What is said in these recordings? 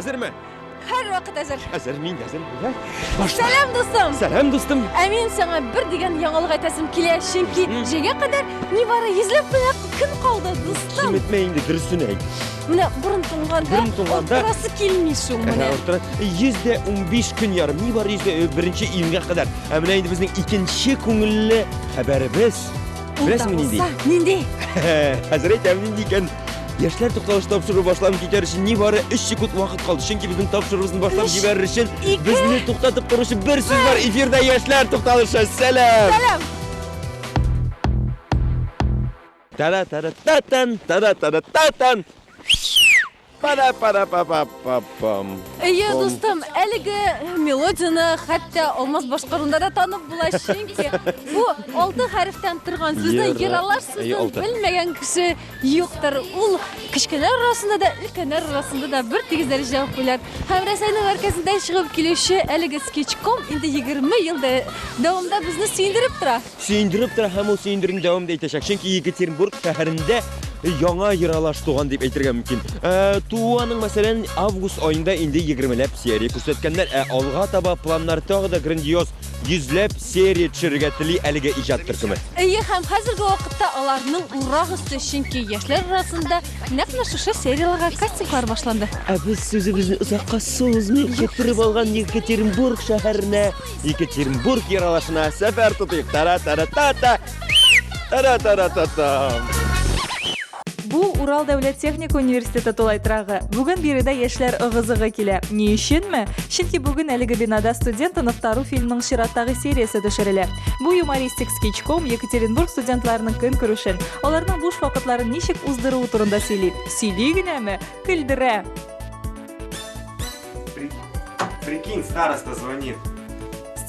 Әзерме? Һәр вакыт әзер. Әзер мин әзер. Сәлам дустым. Сәлам дустым. Ә мин сиңа бер дигән яңалык әйтәсем килә, чөнки җәйгә кадәр нибары йөзләп кенә көн калды, дустым. Киметмә инде дөресен әйт. Менә борын туңганда, борын туңганда турасы килми шул менә. Ә, 115 көн ярым, нибары 100 э, беренче июньгә кадәр. Ә менә инде безнең икенче күңелле хәбәребез. Беләсеңме нинди? Нинди? Хәзер әйтәм нинди икән. Яшьләр тукталыш тапшыру башланып китәр өчен нибары 3 секунд вакыт калды. Чөнки безнең тапшыруыбызны башлап Өч, җибәрер өчен ике. безне туктатып торучы бер сүз бар. Эфирда яшьләр тукталышы. Сәлам! Сәлам! Тара-тара-та-тан, тара-тара-та-тан. Пара-пара-па-па-па-пам. Әйе, Пом. дустым, әлеге мелодияны хәтта алмаз башкарында да танып була, чөнки бу алты хәрефтән торган сүзне Йыра- ералар Әйе, сүзен алты. белмәгән кеше юктыр. Ул кечкенәләр арасында да, өлкәннәр арасында да бер тигез дәрәҗәдә популяр. Һәм Рәсәйнең мәркәзендә чыгып килүче әлеге скетчком инде 20 ел дә- дәвамында безне сөендереп тора. Сөендереп тора һәм ул сөендерүне дәвам да итәчәк, чөнки Екатеринбург шәһәрендә яңа ералаш туган дип әйтергә мөмкин. Ә, Тууаның, мәсәлән, август айында инде 20ләп серия күрсәткәннәр, ә алга таба планнар тагы да грандиоз 100ләп серия төшерергә тели әлеге иҗат төркеме. Әйе, һәм хәзерге вакытта аларның урак өсте, чөнки яшьләр арасында нәкъ менә шушы серияларга кастинглар башланды. Ә без сүзебезне озакка сузмыйк, китереп алган Екатеринбург шәһәренә Екатеринбург ералашына сәфәр тотыйк. Тара-тара-та-та. Тара-тара-та-та. Бу Урал дәүләт техник университеты тулай трагы. Бүген биредә яшьләр ыгы-зыгы килә. Ни өченме? Чөнки бүген әлеге бинада студент оныктару фильмның чираттагы сериясе төшерелә. Бу юмористик скетчком Екатеринбург студентларының көн күрешен, аларның буш вакытларын ничек уздыруы турында сөйли. Сөйли генәме? Көлдерә! Прикинь, староста звонит.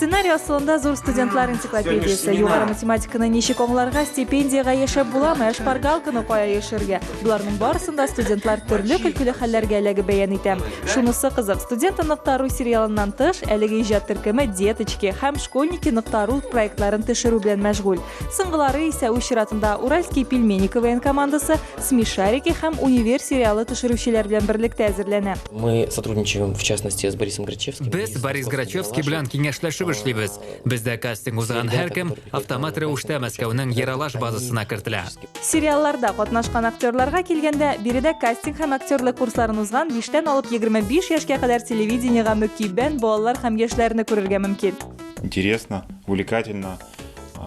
Сценарий асылында зур студентлар энциклопедиясе. Югары математиканы ничек аңларга, стипендиягә яшәп буламы, ә шпаргалканы кая яшергә? Боларның барысында студентлар төрле көлкеле хәлләргә эләгеп бәян итә. Шунысы кызык, студент ныктару сериалыннан тыш, әлеге иҗат төркеме деточки һәм школьники ныктару проектларын төшерү белән мәшгуль. Соңгылары исә үз чиратында Уральский пельмени КВН командасы, Смешарики һәм Универ сериалы төшерүчеләр белән берлектә әзерләнә. Мы сотрудничаем, в частности, с Борисом Грачевским. Без Борис Грачевский белән киңәшләшеп эшлибез. Бездә кастинг узган һәркем автомат рәвештә Мәскәүнең Ералаш базасына кертелә. Сериалларда катнашкан актерларга килгәндә, биредә кастинг һәм актерлык курсларын узган биштән алып егерме биш яшькә кадәр телевидениегә мөкиббән балалар һәм яшьләрне күрергә мөмкин. Интересно, увлекательно.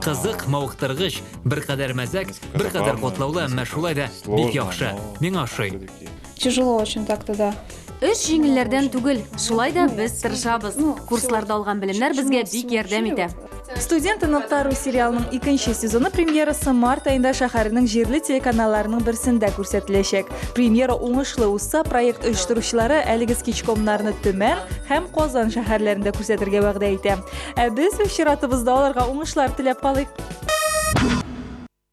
Кызык, мавыктыргыч, беркадәр мәзәк, беркадәр катлаулы, әмма шулай да бик яхшы. Миңа ошый. Тяжело очень так тогда. Эш җиңелләрдән түгел, шулай да без тырышабыз. Курсларда алган белемнәр безгә бик ярдәм итә. Студент ныктару сериалының икенче сезоны премьерасы март айында шәһәрнең җирле телеканалларының берсендә күрсәтеләчәк. Премьера уңышлы узса, проект оештыручылары әлеге скетчкомнарны Төмән һәм Казан шәһәрләрендә күрсәтергә вәгъдә итә. Ә без үз чиратыбызда аларга уңышлар теләп калыйк.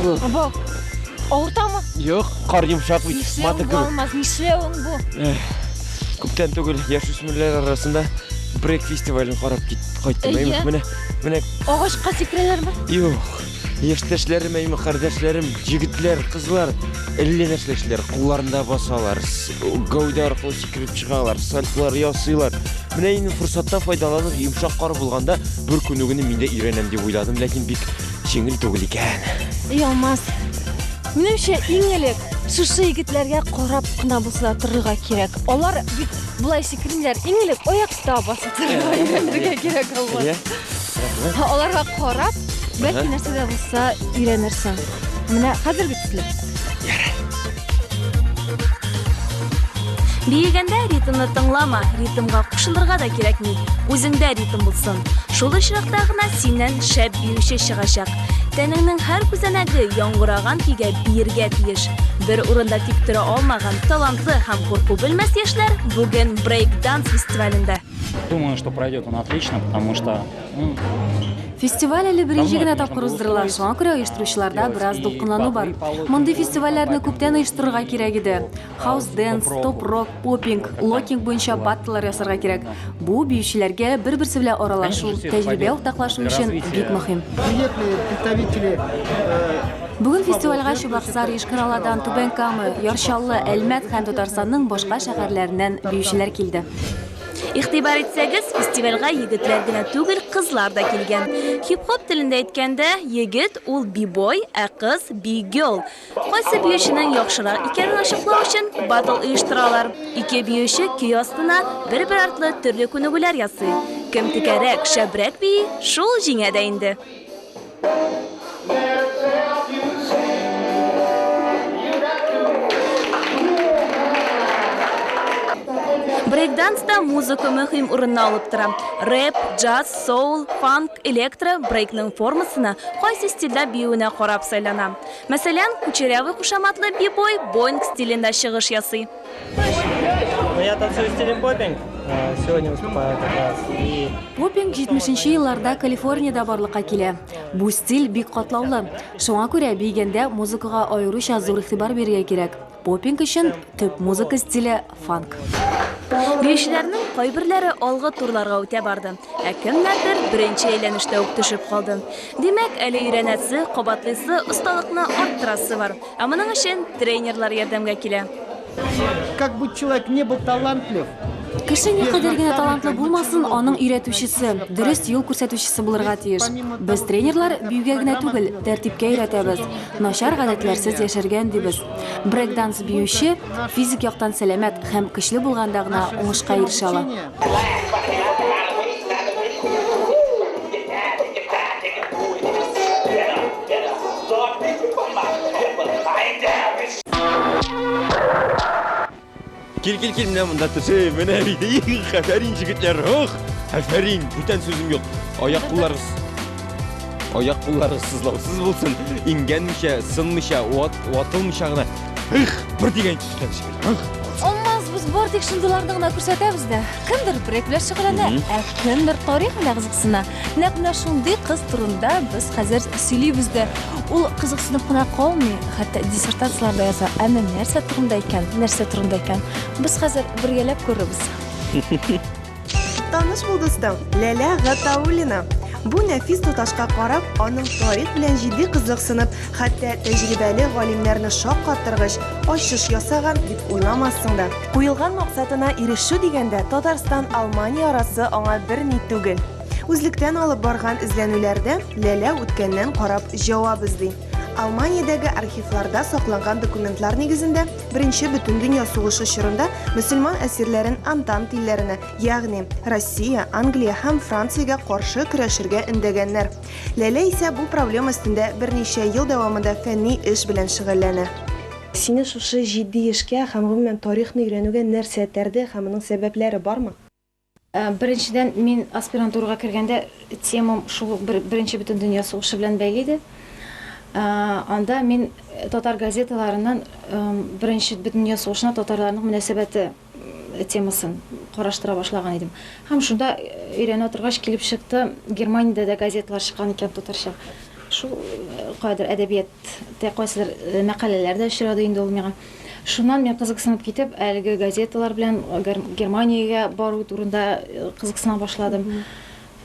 Бу авыртамы? Юк, кар йомшак бит. Маты гүр. Алмаз, нишләвең бу? Күптән түгел яшүсмерләр арасында брейк фестивален карап кит кайттым. Әйе. Менә, менә. Агачка сикрәләрме? Юк. Яшьтәшләрем, әйме кардәшләрем, җегетләр, кызлар, әллә нәрсә эшләр, кулларында басалар, гәүдә аркылы сикереп чыгалар, сальтылар ясыйлар. Менә инде форсаттан файдаланып, йомшак кар булганда бер күнү генә мин дә өйрәнәм дип уйладым, ләкин бик җиңел түгел икән. Ялмаз. Минемчә, иң элек шушы егетләргә карап кына басыла торырга кирәк. Алар бит болай сикермиләр. Иң элек аяк Та басып торырга кирәк булмас. Аларга карап, бәлки нәрсә дә булса өйрәнерсең. Менә хәзерге төсле. Биегәндә ритмны тыңлама, ритмга кушылырга да кирәкми. Үзеңдә ритм булсын. Шул очракта гына синнән шәп биюче чыгачак. Тәнеңнең һәр күзәнәге яңгыраган көйгә биергә тиеш. Бер урында тик тора алмаган талантлы һәм курку белмәс яшьләр бүген брейк-данс фестивалендә. Думаю, что пройдет он отлично, потому что ну, Фестиваль әле беренче генә тапкыр уздырыла, шуңа күрә оештыручыларда бераз дулкынлану бар. Мондый фестивальләрне күптән оештырырга кирәк иде. Хаус денс, топ рок, попинг, локинг буенча баттлар ясарга кирәк. Бу биючеләргә бер-берсе белән аралашу, тәҗрибә уртаклашу өчен бик мөһим. Приветные представители э, Бүген фестивальгә Чыбаксар, Ешкараладан, Түбән Кама, Ярчаллы, Әлмәт һәм Татарстанның башка шәһәрләреннән биючеләр килде. Игътибар итсәгез, фестивальгә егетләр генә түгел, кызлар да килгән. Хип-хоп телендә әйткәндә, егет ул бибой, ә кыз би-гел. Кайсы биюченең яхшырак икәнен ачыклау өчен батл оештыралар. Ике биюче көй астына бер-бер артлы төрле күнегүләр ясый. Кем текәрәк, шәбрәк бии, шул җиңә дә инде. Брейкданста музыка мөһим урынны алып тора. Рэп, джаз, соул, фанк, электро, брейкның формасына, кайсы стильдә биюенә карап сайлана. Мәсәлән, кучерявый кушаматлы бибой боинг стилендә чыгыш ясый. Бопинг 70 нче елларда Калифорниядә барлыкка килә. Бу стиль бик катлаулы. Шуңа күрә биегәндә музыкага аеруча зур игътибар бирергә кирәк. Поппинг өчен төп музыка стиле фанк. Биючеләрнең кайберләре алгы турларга үтә барды, ә кемнәрдер беренче әйләнештә үк төшеп калды. Димәк, әле өйрәнәсе, кабатлыйсы, осталыкны арттырасы бар. Ә моның өчен тренерлар ярдәмгә килә. Как бы человек не был талантлив, Кеше никадәр генә талантлы булмасын, аның өйрәтүчесе, дөрес юл күрсәтүчесе булырга тиеш. Без тренерлар биюгә генә түгел, тәртипкә өйрәтәбез. Начар гадәтләрсез яшәргә өндибез. Брейк-данс биюче физик яктан сәламәт һәм көчле булганда гына уңышка ирешә ала. Кил, кил, кил, менә монда төшү, менә бит, их, афәрин, җегетләр, ох, афәрин, бүтән сүзем юк. Аяк кулларыгыз, аяк кулларыгыз сызлаусыз булсын, иңгәнмичә, сынмича, ват, ватылмича гына, их, бер дигән кичкән җегетләр, ох. Алмаз без бортик шындыларны гына күрсәтәбез дә. Кемдер брейк белән шөгыльләнә, ә кемдер тарих белән кызыксына. Нәкъ менә шундый кыз турында без хәзер сөйлибез дә. Ул кызыксынып кына калмый, хәтта диссертацияләр дә яза. Әмма нәрсә турында икән? Нәрсә турында икән? Без хәзер бергәләп күрербез. Таныш булдыгыз да, Ләлә Гатауллина. Бу нәфис туташка карап, аның тарих белән җитди кызыксынып, хәтта тәҗрибәле галимнәрне шаккаттыргыч ачыш ясаган дип уйламассың да. Куелган максатына ирешү дигәндә, Татарстан, Алмания арасы аңа бер ни түгел. Үзлектән алып барган эзләнүләрдә Ләлә үткәннән карап җавап эзли. Алманиядәге архивларда сакланган документлар нигезендә Беренче бөтендөнья сугышы чорында мөселман әсирләрен Антант илләренә, ягъни Россия, Англия һәм Франциягә каршы көрәшергә өндәгәннәр. Ләлә исә бу проблема өстендә берничә ел дәвамында фәнни эш белән шөгыльләнә. Сине шушы җитди эшкә һәм гомумән тарихны өйрәнүгә нәрсә этәрде һәм моның сәбәпләре бармы? Беренчедән, мин аспирантурага кергәндә темам шул бер Беренче Бөтендөнья сугышы белән бәйле иде. Анда мин татар газеталарыннан Беренче Бөтендөнья сугышына татарларның мөнәсәбәте, темасын караштыра башлаган идем. Һәм шунда өйрәнә торгач килеп чыкты, Германиядә дә газеталар чыккан икән татарча. Шул кадәр әдәбияттә кайсыдыр мәкаләләр дә очрады инде ул миңа. Шуннан мин кызыксынып китеп, әлеге газеталар белән Германиягә бару турында кызыксына башладым.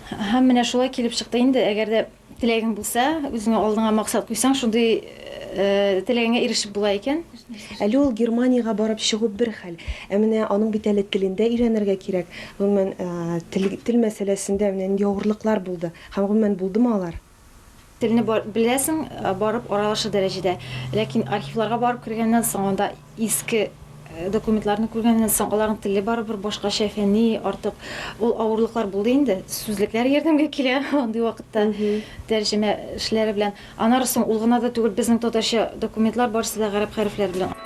Һәм менә шулай килеп чыкты инде, әгәр дә Теләгең булса, үзеңә алдыңа максат куйсаң, шундый теләгеңә ирешеп була икән. Әле ул Германиягә барып чыгу бер хәл, ә менә аның бит әле телен дә өйрәнергә кирәк. Гомумән, тел, тел мәсьәләсендә менә нинди авырлыклар булды һәм, гомумән, булдымы алар? Телне беләсең, барып аралаша дәрәҗәдә. Ләкин архивларга барып кергәннән соң, анда Иске документларны күргәннән соң, аларның теле барыбер башкача, фәнни, артык ул авырлыклар булды инде. Сүзлекләр ярдәмгә килә андый вакытта, тәрҗемә эшләре белән. Аннары соң ул гына да түгел, безнең татарча документлар барысы да гарәп хәрефләре белән.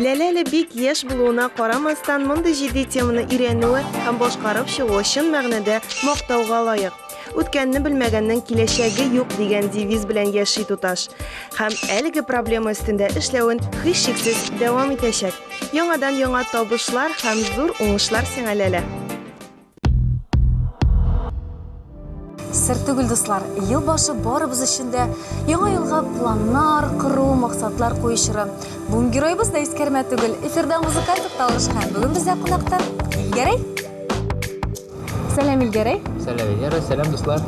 Ләлә әле бик яшь булуына карамастан, мондый җитди теманы өйрәнүе һәм башкарып чыгуы чын мәгънәдә мактауга лаек. Үткәнне белмәгәннең киләчәге юк дигән девиз белән яши туташ. Һәм әлеге проблема өстендә эшләвен һичшиксез дәвам итәчәк. Яңадан яңа табышлар һәм зур уңышлар сиңа, Ләлә. Сер түгел, дуслар, ел башы барыбыз өчен дә яңа елга планнар кору, максатлар кую чоры. Бүген героебыз да искәрмә түгел. Эфирда музыкаль тукталыш һәм бүген бездә кунакта Гәрәй. Сәлам, Илгәрәй! Сәлам, Венера! Сәлам, дуслар!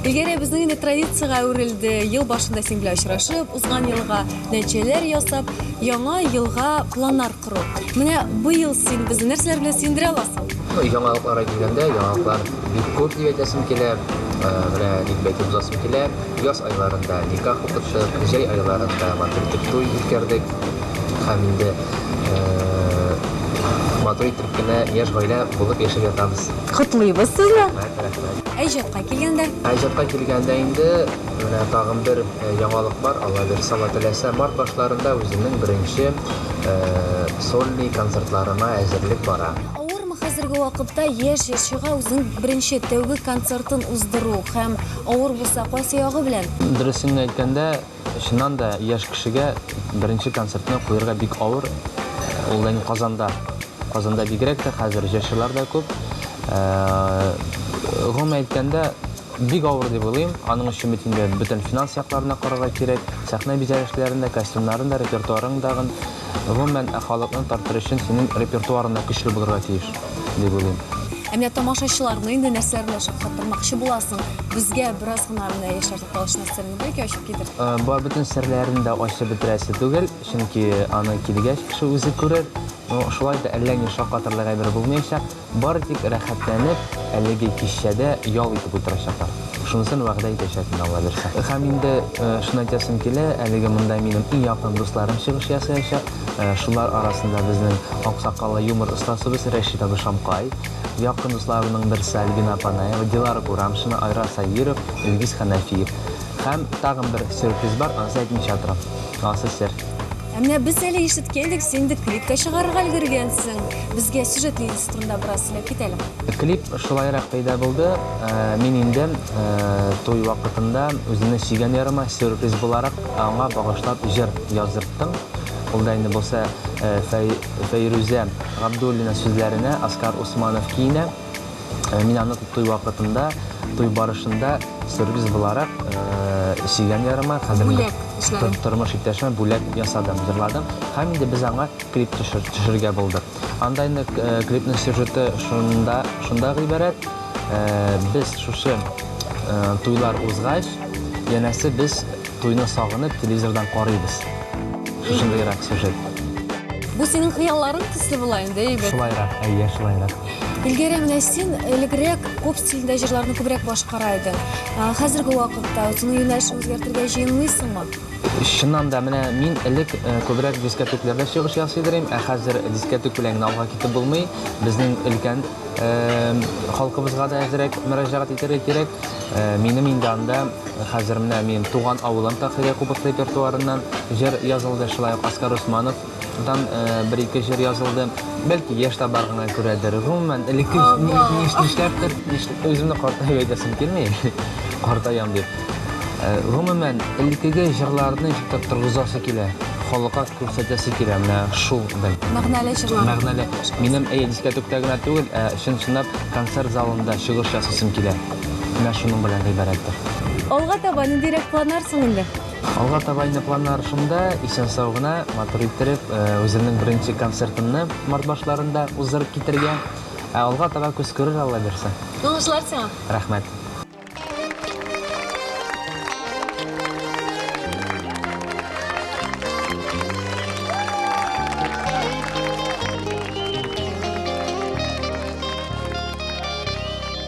Илгәрәй, безнең инде традициягә әверелде. Ел башында син белән очрашып, узган елга нәтиҗәләр ясап, яңа елга планнар кору. Менә бу ел син безне нәрсәләр белән сөендерә аласың? Ну, яңалыкларга килгәндә, яңалыклар бик күп дип әйтәсем килә. Э, менә дип әйтеп узасым килә. Яз айларында никах укыттык, җәй айларында матур итеп туй үткәрдек. Һәм инде э, матур итеп Бик кенә яшь гаилә булып яшәп ятабыз. Котлыйбыз сезне! Рәхмәт, рәхмәт. Ә иҗатка килгәндә? Ә иҗатка килгәндә инде менә тагын бер яңалык бар, Алла бирса, Алла теләсә, март башларында үземнең беренче сольный концертларыма әзерлек бара. Авырмы хәзерге вакытта яшь җырчыга үзенең беренче, тәүге концертын уздыру һәм авыр булса, кайсы ягы белән? Дөресен генә әйткәндә, Чыннан да, яшь кешегә беренче концертны куярга бик авыр. Ул да инде Казанда. Казанда бигрәк тә хәзер җырчылар да күп. Гомумән әйткәндә, бик авыр дип уйлыйм. Аның өчен бит инде бөтен финанс якларын да карарга кирәк. Сәхнә бизәлешләрен дә, костюмнарын да, репертуарың дагын. Гомумән, ә халыкны тартыр өчен синең репертуарың да көчле булырга тиеш, дип уйлыйм. Ә менә тамашачыларны инде нәрсәләр белән шаккатырмакчы буласың? Безгә бераз гына менә яшьләр Палычның сырын да икәү ачып китер. Э, ба бөтен серләрен дә ачып бетерәсе түгел, чөнки аны килгәч кеше үзе күрер. Но шулай да әллә ни шакатырлык әйбер булмаячак. Бары тик рәхәтләнеп, әлеге кичәдә ял итеп утырачаклар. Шунысын вәгъдә итәчәк мин, Алла бирсә. Һәм инде э, шуны әйтәсем килә, әлеге монда минем иң якын дусларым чыгыш ясаячак. Э, шулар арасында безнең аксакаллы юмор остасыбыз Рәшит абый Шамкай, Якын дусларының берсе Альбина Панаева, Дилара Курамшина, Айрат Сабиров, Илгиз Хәнәфиев. Һәм тагын бер сюрприз бар, анысы әйтмичә торам. Анысы сер. Ә менә без әле ишеткәйдек, син инде клип тә чыгарырга өлгергәнсең. Безгә сюжет линиясе турында бераз сөйләп кит әле. Клип шулайрак пәйда булды. Мин инде туй вакытында үземнең сөйгән ярыма сюрприз буларак аңа багышлап җыр яздырттым. Ул да инде булса Фәй. Фәйрүзә Габдуллина сүзләренә Оскар Усманов киенә. Мин аны туй вакытында, туй барышында сюрприз буларак сөйгән ярыма, хәзерге тормыш иптәшемә бүләк ясадым, җырладым. Һәм инде без аңа клип төшергә булдык. Анда инде клипның сюжеты шунда гыйбарәт, без шушы туйлар узгач, янәсе без Туйны сагынып, телевизордан карыйбыз. Шушындыйрак сюжет. Бу синең хыялларың төсле була инде, әйбәт. Шулайрак, әйе, шулайрак. Илгәрә, менә син элегрәк поп стилендә җырларны күбрәк башкара идең. Ә, Хәзерге вакытта үзеңнең юнәлешен үзгәртергә җыенмыйсыңмы? Чыннан да, менә мин элек э, күбрәк дискотекләрдә чыгыш ясый идем, ә хәзер дискотек белән генә алга китеп булмый. Безнең өлкән э, халкыбызга да әзрәк мөрәҗәгать итәргә кирәк. Минем инде анда, хәзер менә мин туган авылым Таһирия Кубык репертуарыннан җыр язылды, шулай ук Оскар Усманов дан бер-ике җыр язылды. Бәлки яшь табаргына күрәдер, гомумән, элекке нишләптер, үземне картаю әйтәсем килми, картаям дип. Гомумән, элеккеге җырларны җитеп торгызасы килә, халыкка күрсәтәсе килә, менә шул бәлки. Мәгънәле җырлар. Мәгънәле. Минем, әйе, дискәтүктә генә түгел, ә чын-чынлап концерт залында чыгыш ясыйсым килә. Менә шуның белән гыйбарәттер. Алга таба ниндирәк планнар соң инде? Алга таба инде планнар шунда, исән-сау гына, матур иттереп, үземнең беренче концертымны март башларында уздырып китәргә. Ә алга таба күз күрер, Алла бирсә. Уңышлар сиңа! Рәхмәт!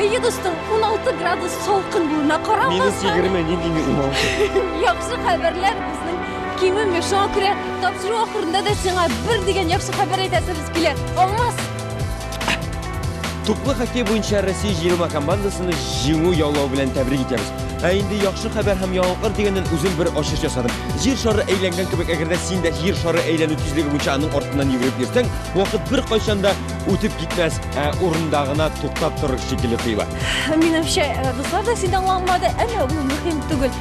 Әйе, дустым, 16 градус солкын булуына карамастан. Минус 20 нинди минимум? Яхшы хәбәрләр безнең кимеми. Шуңа күрә тапшыру ахырында да сиңа бер дигән яхшы хәбәр әйтәсебез. Килә, Алмаз! Туплы хоккей буенча Россия җыелма командасыны җиңү яулау белән тәбрик итәбез. Ә инде яхшы хәбәр һәм яңалыклар дигәннән үзем бер ачыш ясадым. Җир шары әйләнгән кебек, әгәр дә син дә җир шары әйләнү тизлеге буенча аның артыннан йөгереп йөрсәң, вакыт бер кайчан да үтеп китмәс, ә урында гына туктап торыр шикелле тоела. Минемчә, дуслар да сине аңламады, әмма бу мөһим түгел.